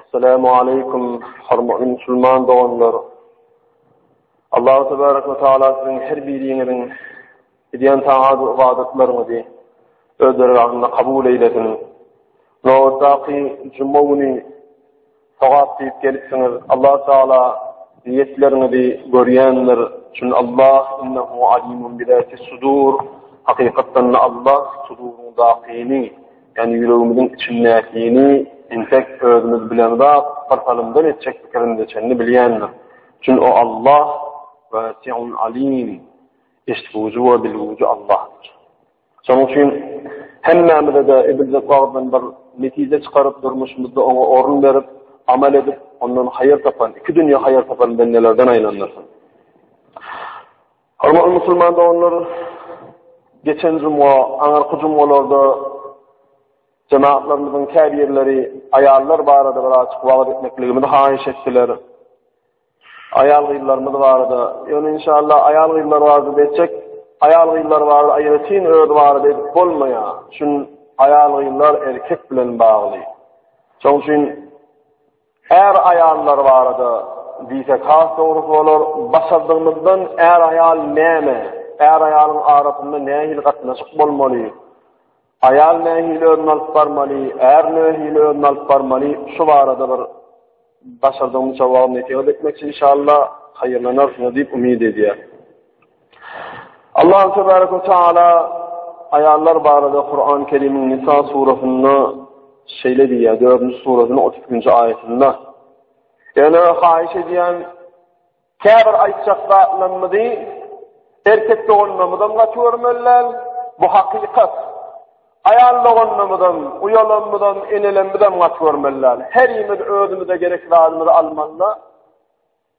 Assalamu aleykum, hormatly musulman doganlar. Allahu tebaraka we taala siziň her biriňiziň edýän taat we ybadatlaryňyzy öz dergahynda kabul eýlesin. Nobatdaky juma güni sogap diýip gelipsiňiz. Allah taala niýetleriňizi görýändir. Çünki Allah innehu alimun bi zati sudur. Hakykatdan Allah suduryň dakyny Ýani ýüregimiziň içindäkini entek özümiz bilen zat bir salymdan etjek pikirinde çenli bilýändir. Çün o Allah Wasi'un Alim, eşitgüji we bilgüji Allahdyr. Şonuň üçin hemmämize-de ediljek wagtdan bir netije çykaryp durmuşymyzda oňa orun berip, amal edip, ondan haýyr tapan, iki dünýe haýyr tapan bendelerden aýlandyrsyn. Hormatly musulman doganlar, geçen juma, aňyrky jumalarda jenaplarymyzyň käbirleri aýallar barada bir açyk wagyz etmekligimizi haýyş etdiler. Aýal-gyzlarymyz barada, ýöne inşallah aýal-gyzlar barada beçek, aýal-gyzlar barada aýratyn öz barada edip bolmaýar. Şun aýal-gyzlar erkek bilen bagly. Şoň üçin Är-aýallar barada diýsek has dogrusy bolar. Başardygymyzdan är-aýal näme, är-aýalyň arasynda nähili gatnaşyk bolmaly, aýal nähili özüni alyp barmaly, är nähili özüni alyp barmaly, şu barada bir başardygymyzça wagz-nesihat etmekçi inşallah, haýyrlanarsyňyz diýip umyt edýäris. Allah tebaraka ve taala ayallar barada Kur'an-ı Kerim'in Nisa surasynda şeýle diýýär, 4-nji surasynyň 32-nji aýatynda. Ýöne haýyş edýän käbir aýtjak zatlarymyzy erkek doganlarymyzdan gaty görmeliler. Bu hakykat. Aýal doganlarymyzdan, uýalarymyzdan, enelerimizden gaty görmeliler. Her ýerimiz özümize gerek zatymyzy almalylar.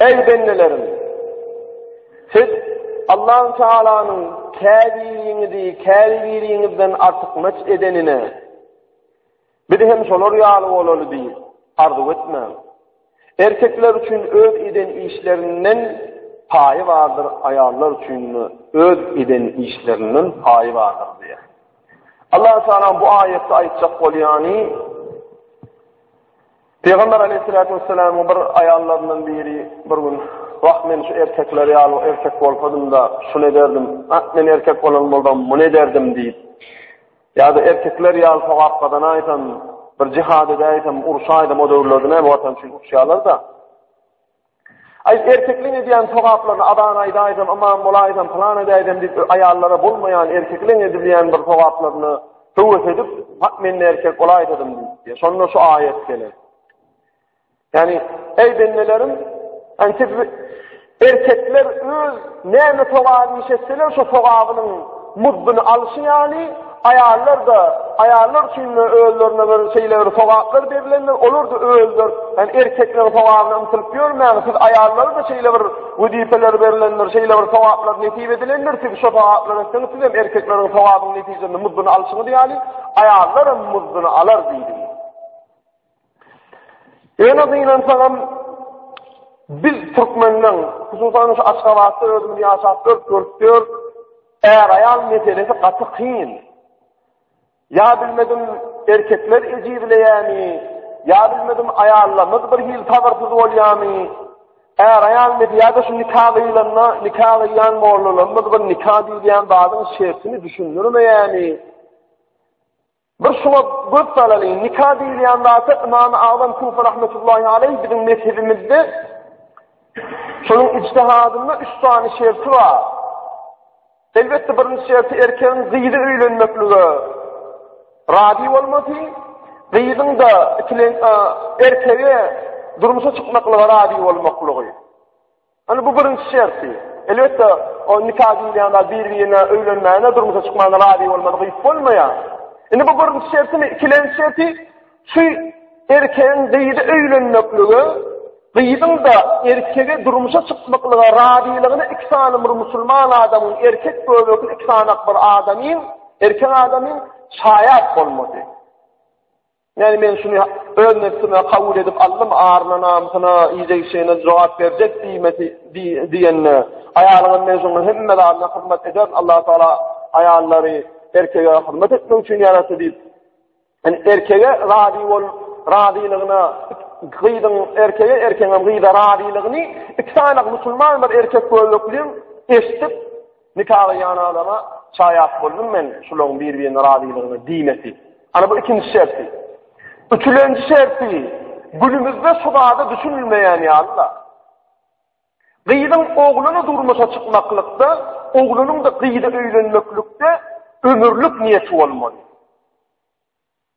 Eý bendelerim! Siz Allahü Tealanyň käbiriňizi käbiriňizden artykmaç edenine, Biz hem şolar ýaly bolaly diýip, arzuw etmäň. Erkekler üçin öz eden işlerinden paýy bardyr, aýallar üçin öz eden işlerinden paýy bardyr diýýär. Allah Teala bu aýatda aýtjak bolýany Pygamber aleýhissalatu wessalamyň bir aýallaryndan biri bir gün, Wah, men şu erkekler ýaly erkek bolsadym-da, şuny ederdim, ah, men erkek bolan bolsam, muny ederdim diýip, ýa-da erkekler ýaly sogap gazanaýsam, bir jihad edäýsem, urşaýsam, o döwürlerde näme Watan üçin urşýarlar-da. Aý, erkekleň edýän sogaplaryny azan aýdaýsam, ymam bolaýsam, pylan edäýsem diýip, aýallara bolmaýan erkekleň edilýän bir sogaplaryny höwes edip, bak men-de erkek bolaýsadym diýip, şonda şu aýat geler. Ýani, eý bendelerim, antik erkekler öz näme sogap işetseler, şu sogabynyň muzduny alşy ýaly, Aýallar-da, aýallar üçin-de özlerine bir şeýle bir sogaplar berilendir, olar-da özler, ýani erkekleriň sogabyna ymtylyp ýörmäň, siz aýallara-da şeýle bir wezipeler berilendir, şeýle bir sogaplar nesip edilendir, siz şo sogaplar etseňiz, siz hem erkekleriň sogabynyň netijesinde muzduny alşyňyz ýaly, aýallar hem muzduny alar diýdi. Ýöne gynansaňam biz türkmenler, hususan şu Aşgabatda özümiz ýaşap görüp görüp är-aýal meselesi gaty kyn. Ýa bilmedim erkekler ejizleýämi, ýa bilmedim aýallarymyz bir hil sabyrsyz bolýamy? Är-aýal meselesi ýa-da şu nika gyýlanda, nika gyýan mollalarymyz bir nika diýýän zadyň şertini düşündirmeýämi? Bir şuňa göz salalyň, nika diýilýän zata Ymamy Agzam Kufa rahmetullahi aleýh biziň mezhebimizde şonuň ijtihadynda üç sany şerti bar. Elbetde birinji şerti erkegiň gyzy öýlenmeklige razy bolmasy, gyzyň da ikilen erkege durmuşa çykmaklyga razy bolmaklygy. Indi bu birinji şerti. Elbetde, o nika diýilýän zat bir-birine öýlenmäne, durmuşa çykmana razy bolmadyk iş bolmaýar. Indi bu birinji şertimi, ikilenji şerti şu erkegiň gyzy öýlenmeklige, gyzyň-da erkegi durmuşa çykmaklyga razylygyny iki sany bir musulman adamyň, erkek göbekli iki sany bir adamyň, erkek adamyň şaýat bolmagy. Ýagny men şuny öz nebsime kabul edip aldym, aryna, namysyna, idegişine jogap berjek diýmesi diýende, aýalyňam men şoňa hemme zadyna hyzmat ederin, Allah Taala aýallary erkege hyzmat etmek üçin ýaratdy diýip, ýani erkege razy bol, razylygyna gyzyň erkege, erkegiňem gyza razylygyny iki sany musulman bir erkek göbekli eşidip, Nikaga ýan adama çaýat boldum men şulaň bir-birine razylygyna diýmesi. Ana bu ikinji şerti. Üçülenji şerti günümizde şu zada düşünilmeýän ýaly-da. Gyzyň ogluna durmuşa çykmaklykda, oglunyň-da gyza öýlenmeklikde ömürlik niýeti bolmaly.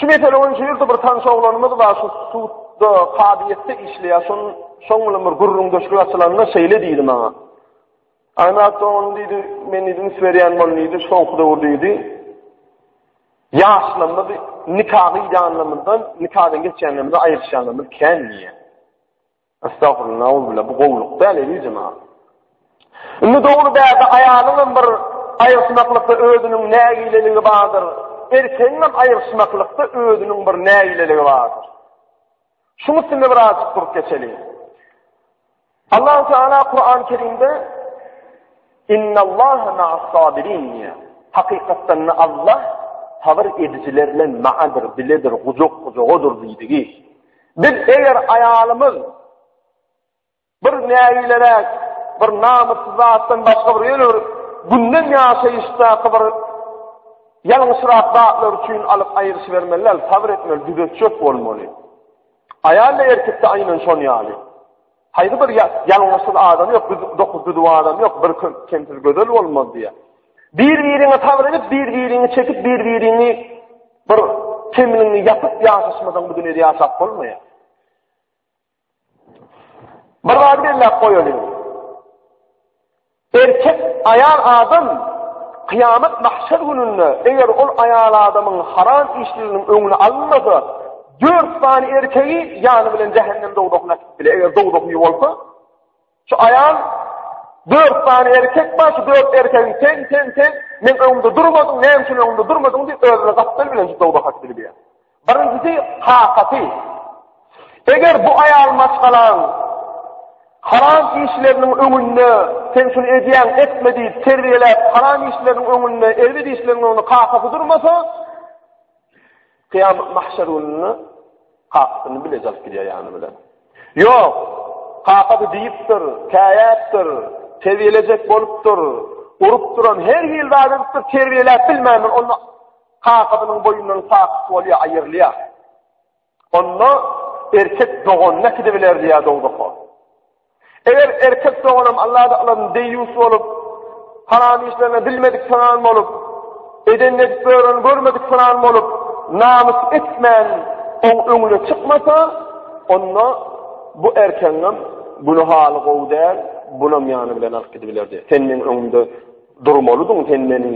Şu mesele boýunça ýerde bir tanyş oglanymyz bar, şu sudda, kazyýetde işleýär. Şoň, şoň bilen bir gürrüňdeşlik açylanda şeýle diýdi maňa. Aýnat dogan diýdi, men diýdim, berýän bol diýdi, soňky döwür diýdi. Ýaşlarymyz nikahy ýanlarymyzdan, nikadan geçýänlerimizi aýryşýanlarymyz kän diýýär. Astagfirullah nauzubilla bu gowluk däl elijem ha. Indi dogry bäde aýalyňam bir aýyrşmaklykda özüniň nägileligi bardyr. Erkegiňem aýyrşmaklykda özüniň bir nägileligi bardyr. Şuň üstünde bir aýat durup geçeli. Allah Teala Kur'an-ı Kerimde Innallaha ma'as-sabirin diýýär. Hakykatdan Allah sabr edijilerle ma'adyr, biledir, gujak-gujagodur diýdigi. Biz eger aýalymyz bir nägileräk, bir namyssyz zatdan başga bir ýöne bir günden ýaşaýyşdaky bir ýalňyşrak zatlar üçin alyp aýryşybermeli däl, sabr etmeli, düzetjek bolmaly. Aýal-da erkek-de aýnan şon ýaly. Haýsy bir ýalňyşsyz adam ýok, dokuz-düzüw adam ýok, bir kemsiz gözel bolmaz diýýär. Bir-biriňe sabyr edip, bir-biriňi çekip, bir-biriňi bir kemligiňi ýapyp ýaşaşmasaň bu dünýäde ýaşap bolmaýar. Bir zady belläp goýalyň. Erkek aýal adam kyýamat mahşer gününde eger ol aýal adamyň haram işleriniň öňüni alynmasa, dört sany erkegi ýany bilen jähennem dowzahyna äkidip biler, eger dowzah uýy bolsa, şu aýal dört sany erkek bar, şu dört erkegiň sen, sen, sen, meň öňümde durmadyň, näme üçin öňümde durmadyň diýip özüne gapdal bilen şu dowzaha äkidip biler. Birinjisi, kakasy. Eger bu aýal maşgalaň haram işleriniň öňünde, sen şuny edýäň, etme diýip terbiýeläp, haram işleriniň öňünde, erbet işleriniň öňünde kakasy durmasa, kyýamat mahşer gününe kakasyny bile jalyp gidýär ýany bilen. Ýok, kakasy diýipdir, käýäpdir, terbiýelejek bolupdyr, urup duran her hil zat edipdir, terbiýeläp bilmändir, onda Kakasynyň boýundan sakyt bolýar, aýyrylýar. Onda erkek doganyny äkidibiler diýýär dogdaka. Eger erkek doganam Allada alan deýýus bolup, haram işlerine bilmedik sanan bolup, eden edip gören görmedik sanan bolup, namys etmän oň öňüne çykmasa, onda bu erkegiňem güni haly gowy däl, bunam ýany bilen alyp gidibiler diýýär. Sen meniň öňümde durmalydyň, sen meni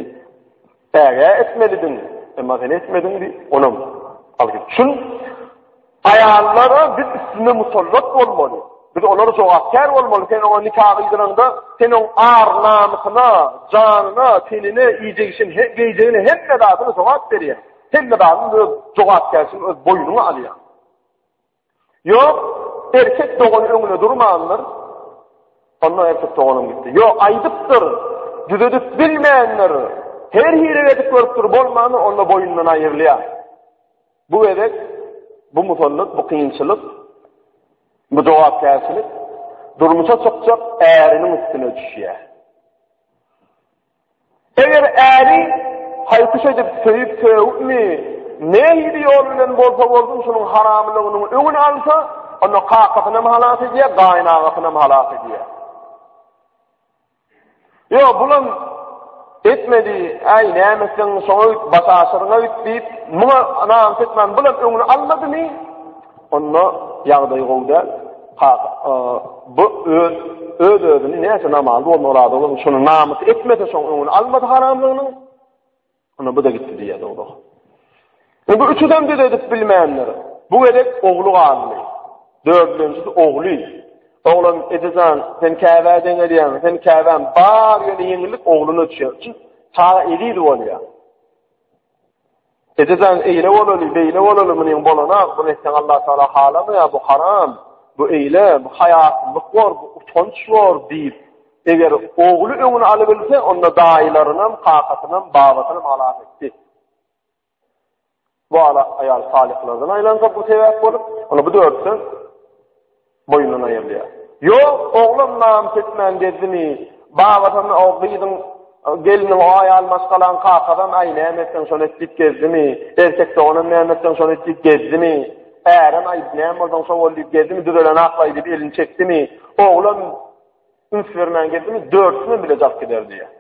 Ägä etmelidiň, emma sen etmediň diýip, onam algyt. Şun aýallara biz üstüne musallat bolmaly. Biz olara jogapkär bolmaly. Sen oňa nika gyýdyraňda, sen oň ar-namysyna, janyna, tenine, iýjegişin, geýjegine hemme zadyna jogap berýär. Hemme zadyny öz jogapkärçiligini öz boýnuňa alýar. Ýok, erkek dogan öňüne durmandyr. Onda erkek doganym gitdi. Ýok, aýdypdyr. Düzedip bilmändir. Her hili edip görüpdir, bolmandy, onda boýundan aýrylýar. Bu gezek bu musallat, bu kynçylyk, bu jogapkärçilik durmuşa çykjak äriniň üstüne düşýär. Eger äri haýkyş edip söýüp sögüpmi, nähili ýol bilen bolsa bolsun şunuň haramlygynyň öňüni alsa, onda kakasynam halas edýär, gaýynagasynam halas edýär. Ýok, bulam etmedi, äý näme etseň şoňa öýt, başaşyryňa öýt diýip, muňa namus etmän bulam öňüni almadymy? Onda ýagdaýy gowy däl. Bu öz-özüni näçe namazly bolmagy razy bolmagy şony namys etmese şoň öňüni almasa haramlygynyň onda bu-da gitdi diýýär dogry. Bu üçüden bir edip bilmänler. Bu gerek ogly galdy. Dördünjisi ogly. Oglan edejan sen käbä deňelýäň, sen käbäm bar ýöne ýeňillik ogluna düşýär. Çünki ta eliz bolýar. Eje jan eýle bolaly beýle bolaly munyň bolanok muny etseň Allah Taala halamaýar bu haram bu eýle bu haýasyzlyk bor bu utanç bor diýip eger ogly öňüni alybilse onda daýylarynam kakasynam babasynam halas etdi. Bu ala aýal salyhlardan aýlansa bu sebäp bolup ony bu dörtsen Boýnuna aýrylýar. Ýok, oglan namys etmän gezdimi? Babasyny o gyzyň, gelniň o aýal maşgalaň kakasam, aý, näme etseň şony et diýip gezdimi? Erkek doganam näme etseň şony et diýip gezdimi? Ärem, aý, näme bolsaň şo bol diýip gezdimi? Düzeleni aklaý diýip elini çekdimi? Oglan üns bermän gezdimi? Dörtüsinem bile jalyp gider diýýär.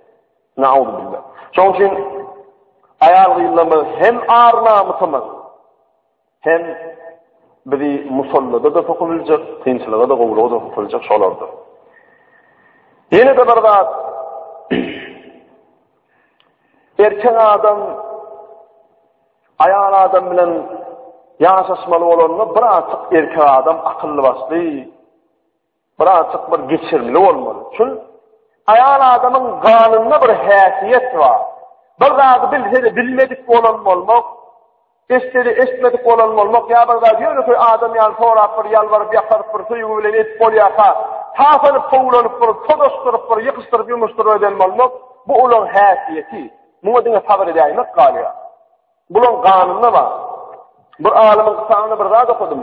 Nauzubilla. Şoň üçin aýal-gyzlarymyz hem ar-namysymyz, Hem bizi musallada-da sokup biljek, kynçylyga-da, gowulyga-da sokup biljek şolardyr. Ýene-de bir zat, erkek adam aýal adam bilen ýaşaşmaly bolanda bir artyk erkek adam akylly başly, Birazjyk bir geçirimli bolmaly üçin aýal adamyň ganynda bir häsiýet bar. Bir zady bilse-de bilmedik bolan bolmak, etse-de etmedik bolan bolmak ýa bir zady ýönekeý adam ýaly sorap bir ýalbaryp ýakaryp bir söýgi bilen edip bolýarka, tapanyp kowlanyp bir todaşdyryp bir ýykyşdyryp ýumuşdyryp eden bolmak bu olaň häsiýeti. Muňa diňe sabyr edäýmek galýar. Bulaň ganynda bar. Bir alymyň kitabynda bir zat okadym.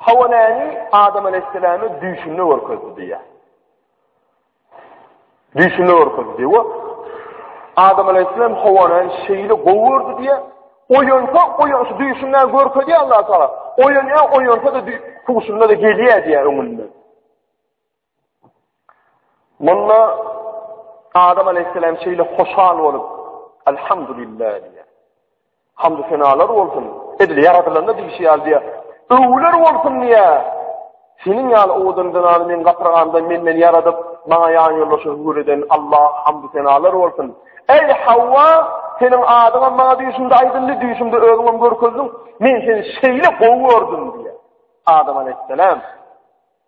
Hawa näni Adam aleyhisselame düýşünde görkezdi diýýär. Düýşünde görkezdi diýýär. Adam aleyhisselam Hawany şeýle gowurdy diýýär. Oýansa, oýan şu düýşünde görkezýär Allah taala. Oýanýar, oýansa da düýşünde de gelýär diýýär öňünde. Munda Adam aleyhisselam şeýle hoşal bolup, Elhamdülillah diýýär. Hamd senalar bolsun. Edil ýaradylanda diýşi ýaly diýýär. Öwler bolsun diýýär. Seniň ýaly owadan zenany men gapyrganda menden ýaradyp, maňa ýan ýoldaşy hüwür eden Allah hamd senalar bolsun. Eý Hawwa, seniň adyňam maňa düýşümde aýdyldy, düýşümde özüňem görkezdiň. Men seni şeýle gowy gördüm diýýär. Adam aleyhisselam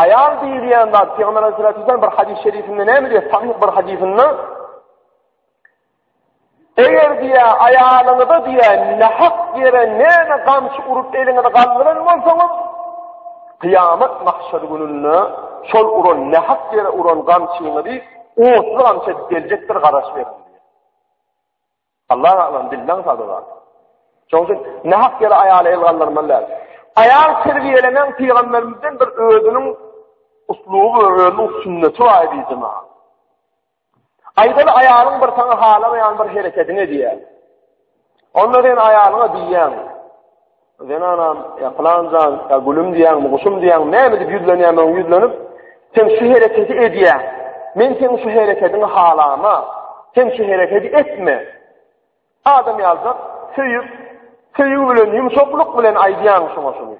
Aýal diýilýän zat Pygamber Aleyhissalatu vesselam bir hadis şerifinde näme diýýär? Sahih bir hadisinde Eger diýä aýalyňyza diýä nahak ýere näme gamçy urup eliňizi galdyran bolsaňyz, kıyamet mahşer gününde şol uran nahak ýere uran gamçyňyzy otly gamçy geljekdir garaş berin. Allah galan dilden sazy bar. Şoň üçin nähak ýere aýala el galdyrmaly däl. Aýal terbiýelenen pygamberimizden bir özüniň usluby, özüniň sünneti bar diýdi maňa. Aýdaly aýalyň bir saňa halamaýan bir hereketini diýýär. Onda sen aýalyňa diýýäň. Zenanam, ýa pylanjan, ýa gülüm diýýäňmi, guşum diýýäňmi, näme diýip ýüzlenýämiň ýüzlenip, sen şu hereketi edýäň. Men seniň şu herekediňi halama. Sen şu herekedi etme. Adam ýalda söýüp, söýgi bilen, ýumşaklyk bilen aýdýaň şoňa şuny.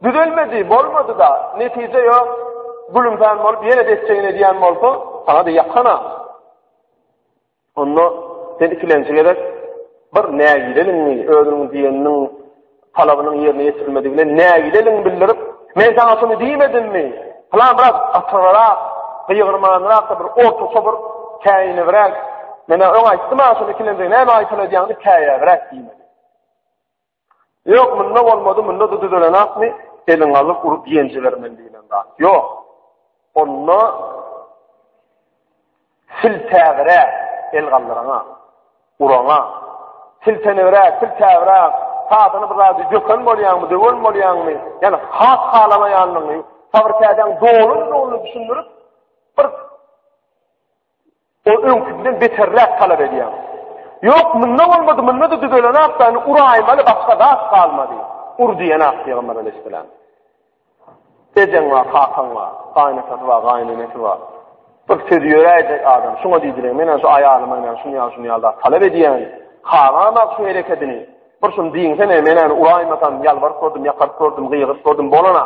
Düzelmedi, bolmady da, netije ýok. Gülümsen bolup, ýene de etjegini edýän bolsa, sana da ýakana. Onda sen ikilenji gezek bir nägileligiňi, özüniň diýeniniň talabynyň ýerine ýetirilmedigini nägileligiňi bildirip, men saňa şuny diýmedimmi? Pylan biraz atygyrak, gygyrmanrak bir ortaça bir käýinibräk, men öň aýtdym-a şuny ikilenjige näme aýtal edýäňdi käýäbräk diýmeli. Ýok, munda bolmady, munda-da düzelenakmy, eliňi alyp urup ýen jibermeli diýlen zat. Ýok. Onda sil täbire el galdyrana, urana, sil tenewre, sil täbire, sadyny bir zady döken bolýanmy, döwen bolýanmy, ýani has halamaýanlygyny, fabrikadaň dolun-dolun düşündirip, bir Ol öňküsinden beterräk talap edýär. Ýok, munda bolmady, munda-da düzelenok da, indi uraýmaly, başga zat galmady. Ur diýenak pygamber aleyhisselam. Ejeň bar, kakaň bar, gaýynatasy bar, gaýynenesi bar. Bir söz ýöräýjek adam, şuňa diýdiler, men şu aýalyma ýa şuny ýa şuny ýa-da talap edýän. Haramak şu herekedini. Bir şuny diýinsene, men ony uraýmasam, ýalbaryp gördüm, ýakaryp gördüm, gygyryp gördüm, bolana.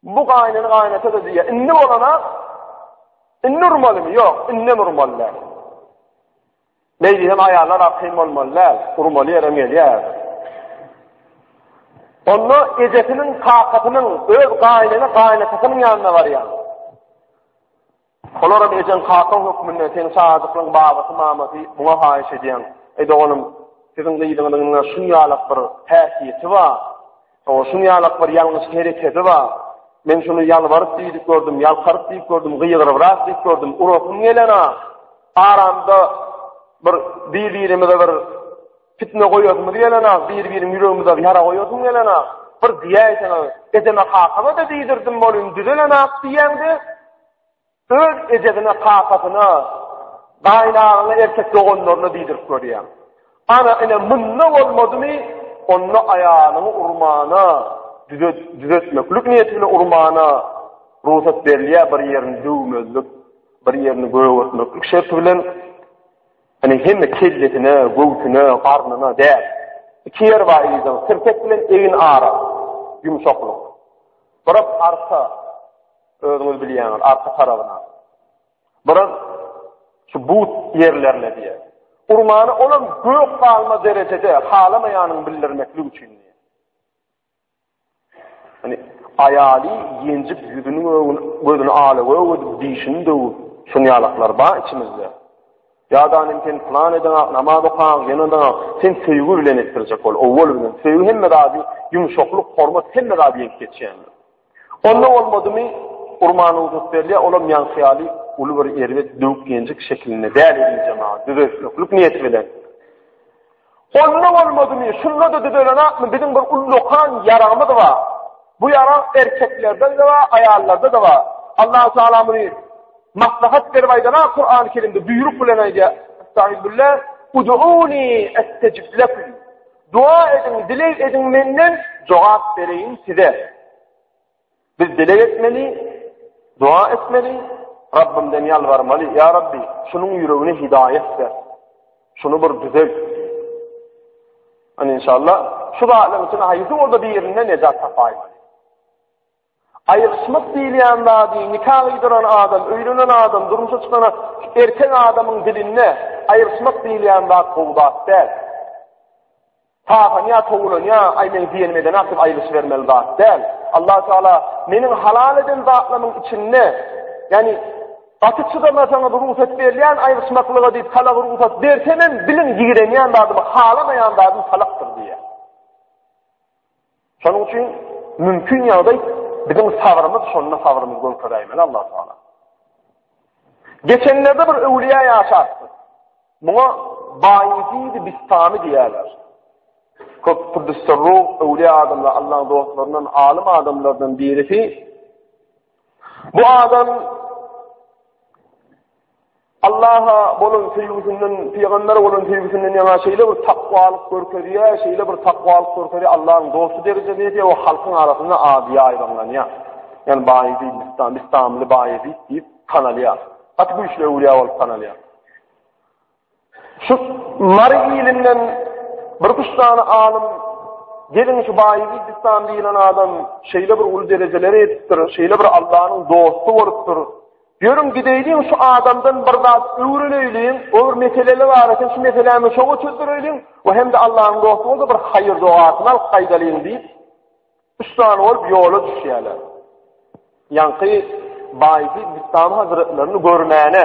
Bu gaýnyn gaýnata-da diýýär, indi bolana, indi urmalymy? Ýok, indem urmaly däl. Beýdi hem aýallar arkaýyn bolmaly däl, urmaly ýerem gelýär. Onda ejesiniň, kakasynyň, öz gaýnyny, gaýnatasynyň ýanyna barýar. Şolaram ejeň kakaň hökmünde seň çagajyklaň babasy mamasy muňa haýyş edýän. Eý doganym siziň gyzyňyzyň ine şunýalak bir häsiýeti bar. Hawa şunýalak bir ýalňyş hereketi bar. Men şuny ýalbaryp diýdik gördüm, ýalkaryp diýip gördüm, gygyryprak diýip gördüm, urasym gelenok. Aramda bir bir birimize bir Pitne goýasymyz gelenok, bir-biriň ýüregimize ýara goýasym gelenok. Bir diýäýseňiz, ejeme-kakama-da diýdirdim welin düzelenok diýýäň-de, öz ejesine, kakasyna, gaýynagaňa, erkek doganlaryna diýdirip görýäň. Ana, ine, munda bolmadymy, onda aýalyňy urmana, düzetmeklik niýeti bilen urmana rugsat berilýär, bir ýerini döwmezlik, bir ýerini gögertmeklik şerti bilen. Ine hemme kellesine, göwsüne, garnyna däl. Iki ýer bar yzyň, tirtek bilen egin ara. Ýumşaklyk. Biraz arka, özüňiz bilýäňiz, arka tarabyna. Biraz şu but ýerlerine diýe. Urmany olam gök galma derejede halamaýanyny bildirmeklik üçin. Hani aýaly ýenjip ýüzüni göwün gözüni ala göwün dişini döwüp şun ýalaklar bar içimizde. Ýadanym sen plan eden ak namaz okan ýene de sen söýgi bilen etdirjek bol. Owwal bilen söýgi hemme zady ýumşaklyk hormat hemme zady ýeňip geçýändir. Onda bolmadymy, urmana ugruk berýär, olam ýaňky ýaly uly bir erbet döwük-ýenjik şekilinde däl elinje maňa düzeltmeklik niýeti bilen. Onda bolmadymy, şunda-da düzelenokmy, biziň bir uly dokan ýaragymyz bar. Bu ýarag erkeklerde-de bar, aýallarda-da bar. Allahu Teala muny maslahat berip aýdana Kurany Kerimde buýruk bilen aýdýar. Estağfirullah. Uduuni estecib lekum. Doga ediň, dileg ediň menden, jogap bereýin size. Biz dileg etmeli, doga etmeli, Rabbimden ýalbarmaly. Ýa Rabbi, şunuň ýüregine hidaýat ber. Şuny bir düzelt. Ani inşallah şu zatlaryň içinde haýsy bolsa birinden nejat tapaýyn. Aýrylyşmak diýilýän zady nika gyýdyran adam, öýlenen adam, durmuşa çykan erkek adamyň dilinde aýrylyşmak diýilýän zat gowy zat däl. Taganýa, towlanýa, aý meň diýenimi edene atyp aýrylyşybermeli zat däl. Allahu Teala meniň halal eden zatlarymyň içinde, ýagny gaty çydamasaňyz rugsat berilýän aýrylyşmaklyga diýip talagy rugsat bersem hem biliň ýigrenýän zadymy, halamaýan zadym talakdyr diýýär. Şonuň üçin mümkin ýagdaý biziň sabrymyz şonda sabrymyz görkeräýmeli Allah taala. Geçenlerde bir öwliýä ýaşapdy. Muňa Baýzid Bistami diýýärler. Köp Kudüsserru öwliýä adamlar Allah'ın dostlaryndan alim adamlardan birisi. Bu adam Allaha bolan söýgüsinden, pygambere bolan söýgüsinden ýaňa şeýle bir takwalyk görkezýär, şeýle bir takwalyk görkezýär, Allahyň dosty derejesine ýetýär, o halkyň arasynda ady ýaýbaňlanýar. Ýani Baýeziýd, Bistam, Bistamly Baýeziýd diýip tanalýar. Gaty güýçli öwlýä bolup tanalýar. Şu Mary ilinden bir üç sany alym Gelin şu baýy Gizistan diýilen adam şeýle bir uly derejeleri ýetipdir, şeýle bir Allahnyň dosty bolupdyr. Ýörüň gideýliň şu adamdan bir zat öwreneýliň, o bir meseleler bar eken, şu meseläni çoga çözdüreýliň we hem-de Allahnyň dosty bolsa bir haýyr dogasyny alyp gaýdalyň diýip, üç sany bolup ýola düşýärler. Ýaňky baýy Gizistan hazretlerini görmäne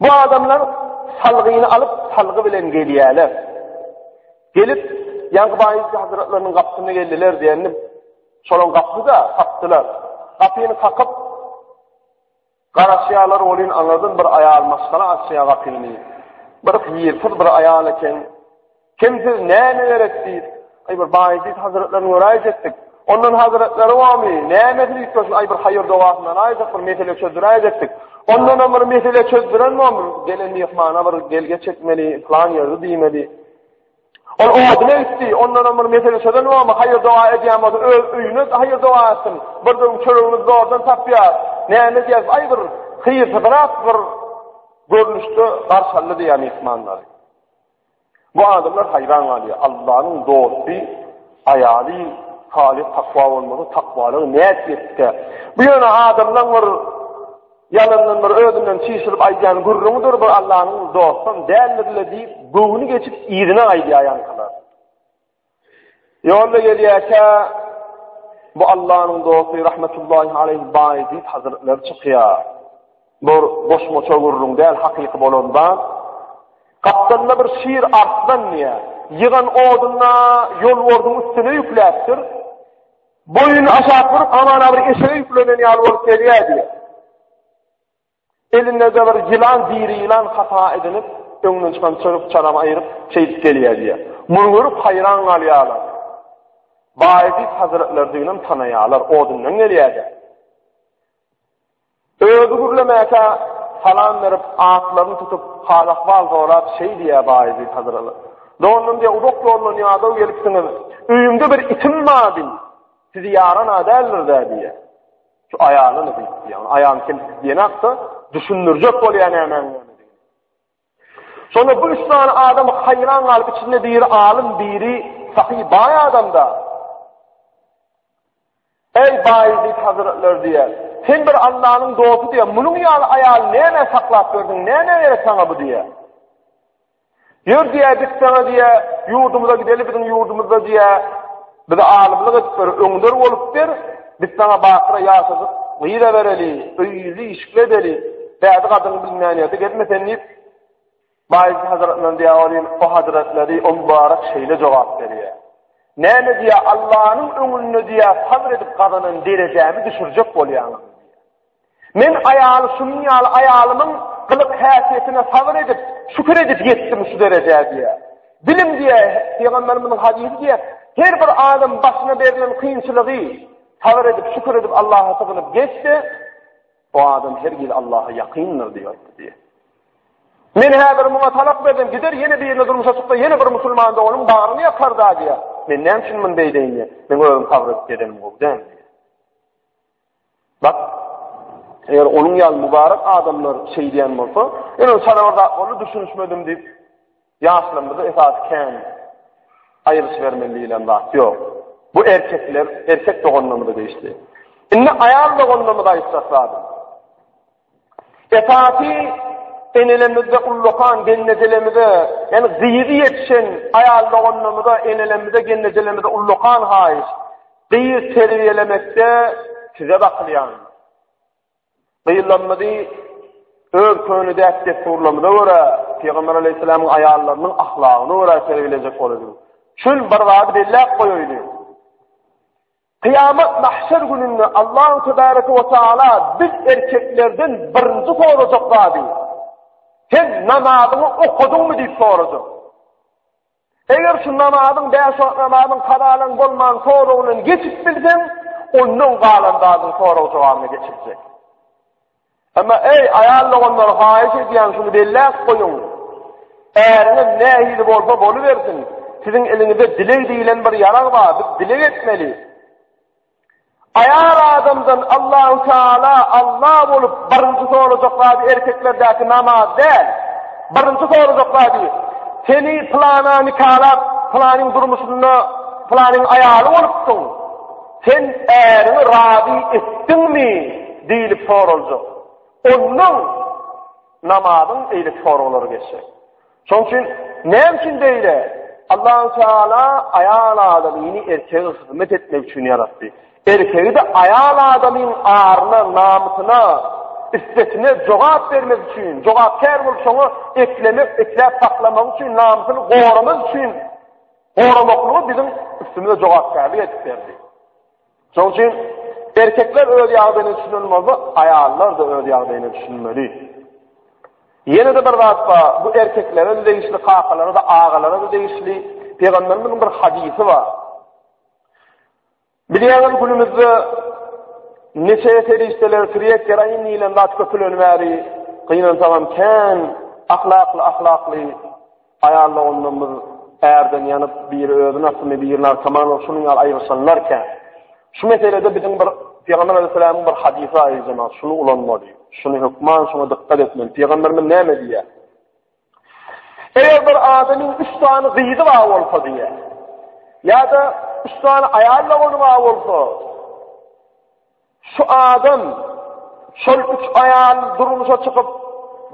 Bu adamlar salgyny alyp, salgy bilen gelýärler. Gelip, ýaňky baýyzky hazretleriniň gapysyna geldiler diýendim. Şolaň gapyda tapdylar. Gapyny kakyp, garaşýarlar olin aňyrdan bir aýal maşgala açýar gapyny. Bir ýyrtyr bir aýal eken. Kim siz näme gerek diýip, aý bir baý diýip hazretlerini göräýjek etdik. Ondan hazretleri wamy, näme diýip şu aý bir haýyr dogasyna aýjak bir mesele çözdüräýjek etdik. Ondan ömür mesele çözdüren wamy, gelen myhmana bir gelge çekmeli, plan ýerdi diýmeli. Ol odyna gitdi, ondan ömür mesele çözen wamy, haýyr doga edýän bolsa öz öýüne haýyr doga etsin. Bir gün çöregini zordan tapýar. Näme diýip, aý bir hyýrsyzrak bir görnüşde garşaldy diýýär myhmanlary. Bu adamlar haýran galýar, Allanyň dosty aýaly Salyh takwa bolmasa takwalygy nädip etdikä? Bu ýöne adamlaň bir ýalandan bir özünden çişirip aýdýan gürrüňidir bir Allanyň dostam däldirle diýip göwni geçip yzyna gaýdýar ýaňkylar. Ýolda gelýärkä, bu Allanyň dosty rahmetullahi aleyh Baýezid hazretleri çykýar. Bu goşmaça gürrüň däl, hakyky bolan zat. Gapdalynda bir şir arslan diýýär. Ýygan oduna ýolbordyň üstüne ýükläpdir. Boýuny aşak burup, hamana bir eşege ýüklenen ýaly bolup gelýär diýýär. Elinde-de bir ýylan, diri ýylan hata edinip, öňden çykan çyryp-çaram aýryp, şeýdip gelýär diýýär. Muny görüp haýran galýarlar. Baýezit hazretlerdiginem tanaýarlar, odundan gelýär-dä. Özi gürlemäkä salam berip, atlaryny tutup, hal-ahwal sorap, şeý diýýär Baýezit hazretleri. Doganlarym diýýär, uzak ýoldan ýadaw gelipsiňiz, öýümde bir itim bar diý. Sizi ýaran-a däldir-dä diýýär. Şu aýala ne diýip diýýär? Aýalyň kimsi diýenakda düşündirjek bolýar nämäň nämedigini. Şonda bu üç sany adam haýran galyp içinde biri alym, biri sahy baý adamda. Ey baý diýip hazretler diýýär. Sen bir Allanyň dosty diýýär. Munuň ýaly aýaly näme saklap berdiň? Näme gerek saňa bu diýýär. Ýör diýýär, git saňa diýýär, ýurdumyza gideli, biziň ýurdumyzda diýýär, bize alymlyk edip ber, öňder bolup ber, biz saňa bakyra ýaşajyk gyz ebereli, öýli, işikli edeli, bädi gadyň bilmän ýerde gezme sen diýip, Baýzy hazretlerine diýýär, olim, o hazretleri, o mübarek şeýle jogap berýär. Näme diýýär, Allanyň öňünde diýýär, sabr edip gazanan derejämi düşürjek bolýaňyz? Men aýaly şunuň ýaly aýalymyň gylyk-häsiýetine sabyr edip, şükür edip ýetdim şu derejä diýýär. Bilim diýýär, Pygamberimiziň hadysy diýýär, Her bir adam başyna berlen kynçylygy sabyr edip, şükür edip Allaha sygynyp geçse, o adam her ýyl Allaha ýakyndyr diýýär diýýär. Men häzir muňa talak berdim, gider ýene birine durmuşa çyksa, ýene bir musulman doganyň bagryny ýakar da diýýär. Men näme üçin muny beýdeýin diýýär. Men özüm sabyr edip gezenim gowy däl. Bak, eger onuň ýaly mübarek adamlar şeýdýän bolsa, ýöne çalabar zatlaryna düşünişmedim diýip, ýaşlarymyzy esasy kän aýryşybermeli diýlen zat ýok. Bu erkekler, erkek doganlarymyza degişli. Indi aýal doganlarymyza aýtjak zadym. Esasy enelemizde ullakan gelnejelemize, ýani gyzy ýetişen aýal doganlarymyza, enelerimize, gelnejelerimize ullakan haýyş. Gyz terbiýelemekde size bakylýan. Gyzlarymyzy öz köne däp-dessurlarymyza görä, Pygamber aleyhisselamyň aýallarynyň ahlagyna görä terbiýelejek bolalyň. Şul bir zady belläp goýaýly. Kyýamat, mahşer, gününde Allahu tebareke we taala biz erkeklerden birinji sorajak zady, Sen namazyňy okadyňmy diýip sorajak. Eger şu namazyň, bäş wagt namazyň kazalaň bolman soragyndan geçip bilseň, ondan galan zadyň sorag-jogabyny geçirjek. Emma ey aýal doganlar haýyş edýän şuny belläp goýuň. Äriňiz nähili bolsa bolubersin, siziň eliňizde dileg diýilen bir ýarag bar, biz dileg etmeli. Aýal adamdan Allahu Taala Allah bolup birinji sorajak zady erkeklerdäki namaz däl. Birinji sorajak zady seni plana nikalap, planyň durmuşynda planyň aýaly bolupdyň. Sen äriňi razy etdiňmi? diýlip soraljak. Ondan namazyň eýle çoralary geçjek. Şonuň üçin näme üçin beýle? Allahu Teala aýal adamyny erkege hyzmat etmek üçin ýaratdy. Erkegi-de aýal adamyň aryna, namysyna, isbetine jogap bermek üçin, jogapkär bolup şoňa eklemek, ekläp saklamak üçin, namysyny goramak üçin Goramaklygy biziň üstümize jogapkärlik edip berdi. Şonuň üçin erkekler öz ýagdaýyna düşünen bolsa, aýallar-da öz ýagdaýyna düşünmeli. Ýene-de bir zat bar, bu erkeklere-de degişli, kakalara-da, agalara-da degişli. Pygamberimiziň bir hadysy bar. Bilýäňiz, günümizde neşe serişdeleri triýek geroin diýlen zat köpülen bäri gynansagam kän ahlakly ahlakly aýal doganlarymyz ärden ýanyp biri özi nasymy biri narkoman bolup şunuň ýaly aýryşanlar kän. Şu meselede biziň bir Pygamber Aleyhisselamyň bir hadysy aýyljamaly, şuny ulanmaly, şuny hökman şuňa dykgat etmeli. Pygamberimiz näme diýýär? Eger bir adamyň üç sany gyzy bar bolsa diýe. Ýa-da üç sany aýal dogany bar bolsa, şu adam şol üç aýal durmuşa çykyp,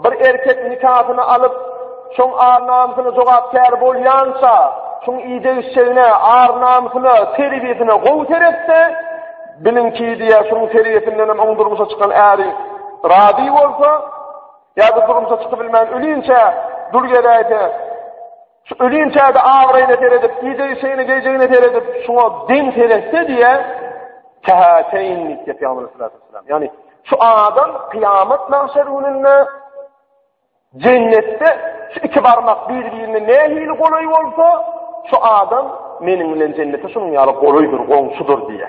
bir erkek nikasyny alyp, şoň ar-namysyna jogapkär bolýança, şoň idegişjegine, ar-namysyna, terbiýesine gowy seretse, biliňki diýe, şoň terbiýesinden hem oň durmuşa çykan äri razy bolsa, Ýa-da durmuşa çykybilmän ölinçä dul geläýse, şu ölinçä-de abraýyna seredip, gije işegine, gijegine seredip, şuňa deň seretse diýe, käteýin diýip ýapýarlar sallallahu aleyhi ve sellem. şu adam kıyamet mahşer gününde cennette şu iki barmak birbirine ne hili kolay olsa şu adam menin bilen cennete şunun yalı kolaydır, komşudur diye.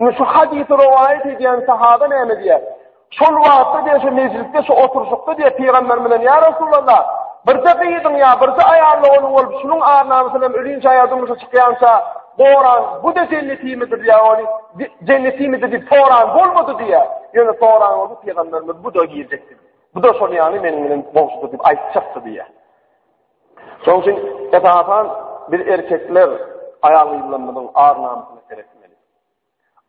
Indi şu hadysy rowaýat edýän sahaba näme diýýär? Şol wagtda diýýär, şu mejlisde, şu oturşykda diýýär, pygamber bilen ýa Resulallah, birde gyzyň ýa birde aýal dogany bolup, şunuň arnamysyny hem ölinçä ýa durmuşa çykýança goran, bu da jennetimidir ýa ony jennetimidir diýip soran bolmady diýýär. Ýöne soran bolsa pygamberimiz bu da girjekdi. Bu da şol ýaly meniň bilen goňşudyr diýip aýtjakdy diýýär. Şonuň üçin, esasan, biz erkekler aýal-gyzlarymyzyň ar-namysyna seretmeli.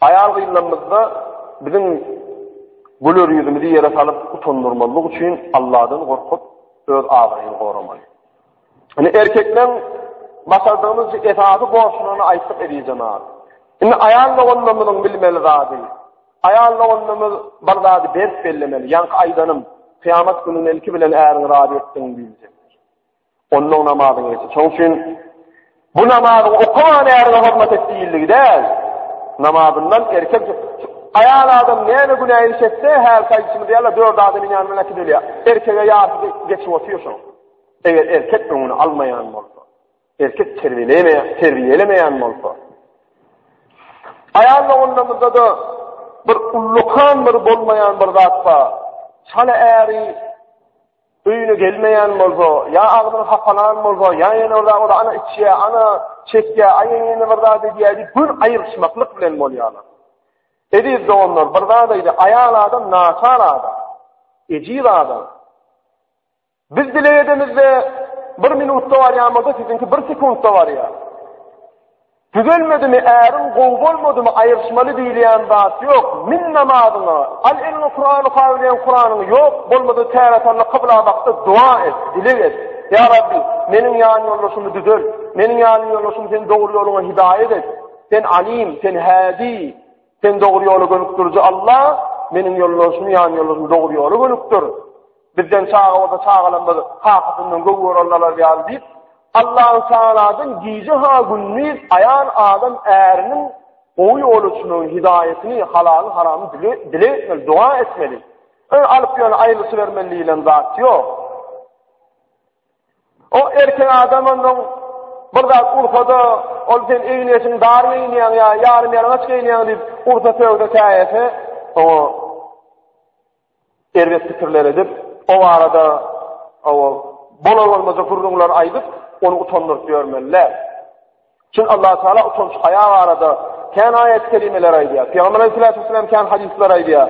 Aýal-gyzlarymyzda biziň güler ýüzümizi ýere salyp utandyrmazlyk üçin Alladan gorkup, öz abraýyny goramaly. Indi erkekleriň başardygymyzça esasy borçlaryny aýtdyk eziz jenap. Indi aýal doganlarymyzyň bilmeli zady, Aýal doganymyz bir zady berk bellemeli, ýaňky aýdanym, Kyýamat gününe ilki bilen äriňi razy etdiň diýiljekdir. Onnoň namazyň geçip. Şoň üçin bu namazy okaman äriňe hormat et diýildigi däl. Namazyndan erkek aýal adam näme günä iş etse, häl saýyşymyz ýaly dört adam ýanyna bilen äkidilýär. Erkege ýarty geçip otyr şoň. Eger erkek öňüni almaýan bolsa. Erkek terbiýeleýän, terbiýelemeýän bolsa. Aýal doganlarymyzda-da bir ullakan bir bolmaýan bir zat bar. Çala äri öýüne gelmeýän bolsa, ýa agzyny hapalan bolsa, ýa ýene orada ora ana içýä, ana çekýä, aýa ýene bir zat edýä diýip, gün aýryşmaklyk bilen bolýarlar. Ediz doganlar, bir zat aýdy, aýal adam naçar adam. Ejiz adam. Biz dileg edemizde bir minutda barýamyzda siziňki bir sekuntda barýar. Düzelmedimi äriň gowy bolmadymy aýyrşmaly diýilýän zat ýok. Min namazyňa, al eliňe Kurany kawylaýan Kuranyňy ýok, bolmasa täretalla kybla bakda doga et, dileg et. Ýa Rabbi, meniň ýan ýoldaşymy düzel. Meniň ýan ýoldaşymy sen dogry ýoluňa hidaýat et. Sen Alim, sen Hädi. Sen dogry ýola gönükdiriji Alla, meniň ýoldaşym, ýan ýoldaşym dogry ýola gönükdir. Bizden çaga bolsa çagalarymyz kakasyndan göw görenler ýaly diýip, Allahu Teala'dan gije ha gündiz aýal adam äriniň gowy ýol üçin hidaýatyny, halal haramy dile, dile etmeli, dua etmeli. Ön alyp ýöne aýlyşy bermeli diýilen zat ýok. O erkek adam ondan bir zat ursa-da, ol sen egin-eşiň dar geýinýäň ýa ýarym-ýalaňaç geýinýäň diýip ursa sögse käýese, oňa erbet pikirler edip, o barada oňa bolar-bolmajak gürrüňler aýdyp, ony utandyryp ýörmeli däl. Çünki Allah Taala utanç haýa barada kän aýat-kerimeler aýdýar. Pygamber Aleyhisselam kän hadyslar aýdýar.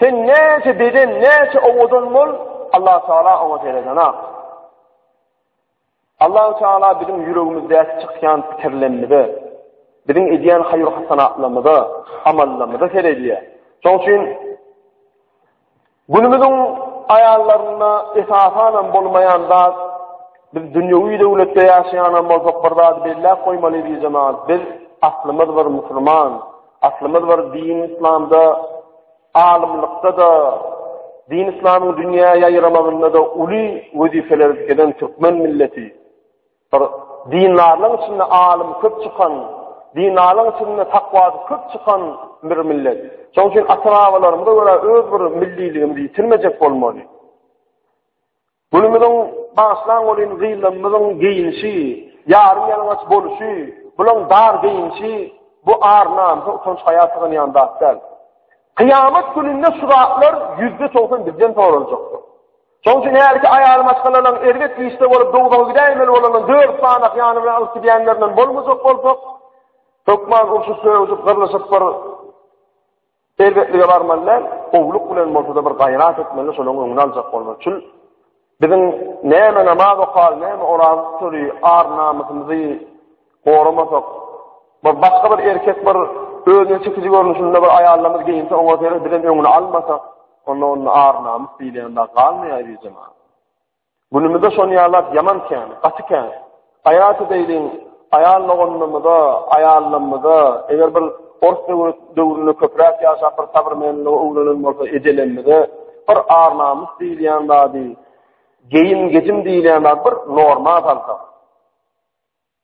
Sen näçe beden, näçe owadan bol, Allah Taala oňa seredana. Allah Taala biziň ýüregimizdäki çykýan pikirlerimize, biziň edýän haýyr hasanatlarymyza, amallarymyza seredýär. Şoň üçin günümiziň aýallarynda esasan hem bolmaýan zat biz dünýewi döwletde ýaşaýan hem bolsak bir zat belläp goýmaly diýjemaz. Biz aslymyz bir musulman. Aslymyz bir din yslamda, alymlykda-da, din yslamyň dünýä ýaýramagynda-da uly wezipeleri dikeden türkmen milleti, bir dindarlaryň içinde alym köp çykan, dindarlaryň içinde takwasy köp çykan bir millet. Şonuň üçin ata-babalarymyza görä öz bir milliligimizi ýitirmejek bolmaly. Günümiziň bagyşlan welin gyýylymymyzyň geýinişi, ýarym ýalaňaç boluşy, bulaň dar geýinişi bu ar namysa utanç haýa sygynýan zat däl. Kyýamat gününde şu zatlar ýüzde togsan bizden soraljakdyr. Şoň üçin hälki aýaly maşgalalaryn erbet işde bolup dowzaha gidäýmeli bolandan dört sanak ýany bilen alyp gidýänlerinden bolmajak bolsak, hökman urşup sögüşip gyrlyşyp bir Erbetlige barmaly däl, gowluk bilen bolsa-da bir gaýrat etmeli, şolaryň öňüni aljak bolmak üçin. Biziň näme namaz okaly, näme oraza tutaly, ar-namysymyzy goramasak, bir başga bir erkek bir özüne çekiji görnüşinde bir aýallarymyz geýinse, oňa seredip, biz hem öňüni almasak, onda onda ar-namys diýlen zat galmaýar, bijem-ä. Günümüzde şon ýalak ýaman kän, gaty kän. Aýat edeýliň, aýal doganlarymyza, aýallarymyza, eger bir ors döwründe köpräk ýaşap bir sabrmenlige öwrenen bolsa ejelerimize bir ar-namys diýilýän zady, geýim-gejim diýilýän zady bir norma salsak.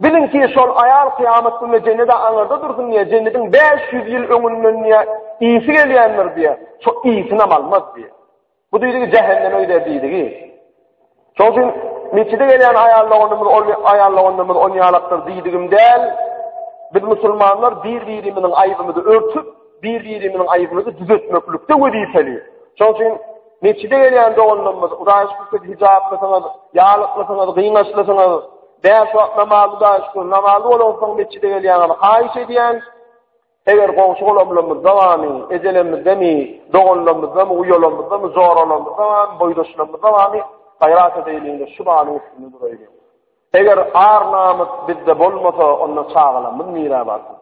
Biliň ki, şol aýal kyýamat gününe jennede aňyrda dursun diýýär, jennediň bäş ýüz ýyl öňünden diýýär, ysy gelýändir diýýär, şo ysynam almaz diýýär. Bu diýdigi jähenneme gider diýdigi. Şoň üçin metjide gelýän aýal doganymyz, ol aýal doganymyz on ýalakdyr diýdigim däl. Biz musulmanlar bir-birimiziň aýybymyzy örtüp, bir-birimiziň aýybymyzy düzetmeklikde wezipeli. Şoň üçin Mesjide gelýän doganlarymyz, Hudaýa şükür siz hijaplysyňyz, ýalyklysyňyz, gyňaçlysyňyz. Bäş wagt namaz Hudaýa şükür, namazly bolansoň mesjide gelýäňiz. Haýyş edýän, eger goňşy golamlarymyzda bamy, ejelerimizdemi, doganlarymyzdamy, uýalarymyzdamy, joralarymyzda bamy, boýdaşlarymyzda bamy, gaýrat edeýliňiz, şu balyň üstünde duraýyň. Eger ar namys bizde bolmasa, onda çagalarymyz nirä barsyn?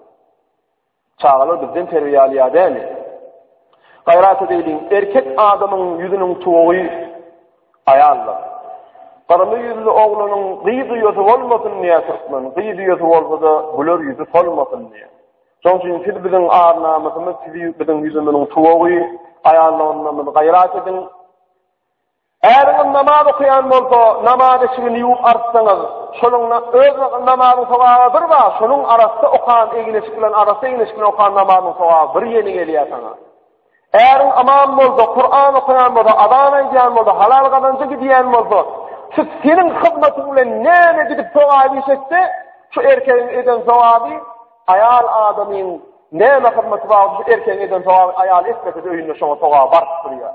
Çagalar bizden terbiýe alýar däli. Gaýrat edeliň, erkek adamyň ýüzüniň tuwagy aýaldyr. Gyrmy ýüzli oglanyň gyz ýüzi bolmasyn diýýär türkmen, gyz ýüzi bolsa-da güler ýüzi solmasyn diýýär. Şonuň üçin siz biziň ar-namysymyz, siz biziň ýüzümiziň tuwagy, aýallygynda gaýrat ediň. Äriňiz namaz okaýan bolsa, namaz eşigini ýuwup artsaňyz, şonuň na, öz na, namazyň sogaby bir ba, şonuň arassa okan egin-eşik bilen arassa egin-eşik bilen okan namazyň sogaby bir ýeni gelýär saňa. Äriň aman bolsa, Kuran okaýan bolsa, azan aýdýan bolsa, halal gazanja gidýän bolsa, şu seniň hyzmatyň bilen näme gidip sogaby iş etse, şu erkegiň eden sogaby aýal adamyň näme hyzmaty bar, şu erkegiň eden sogaby aýaly etmese-de öýünde şoňa sogaby baryp durýar.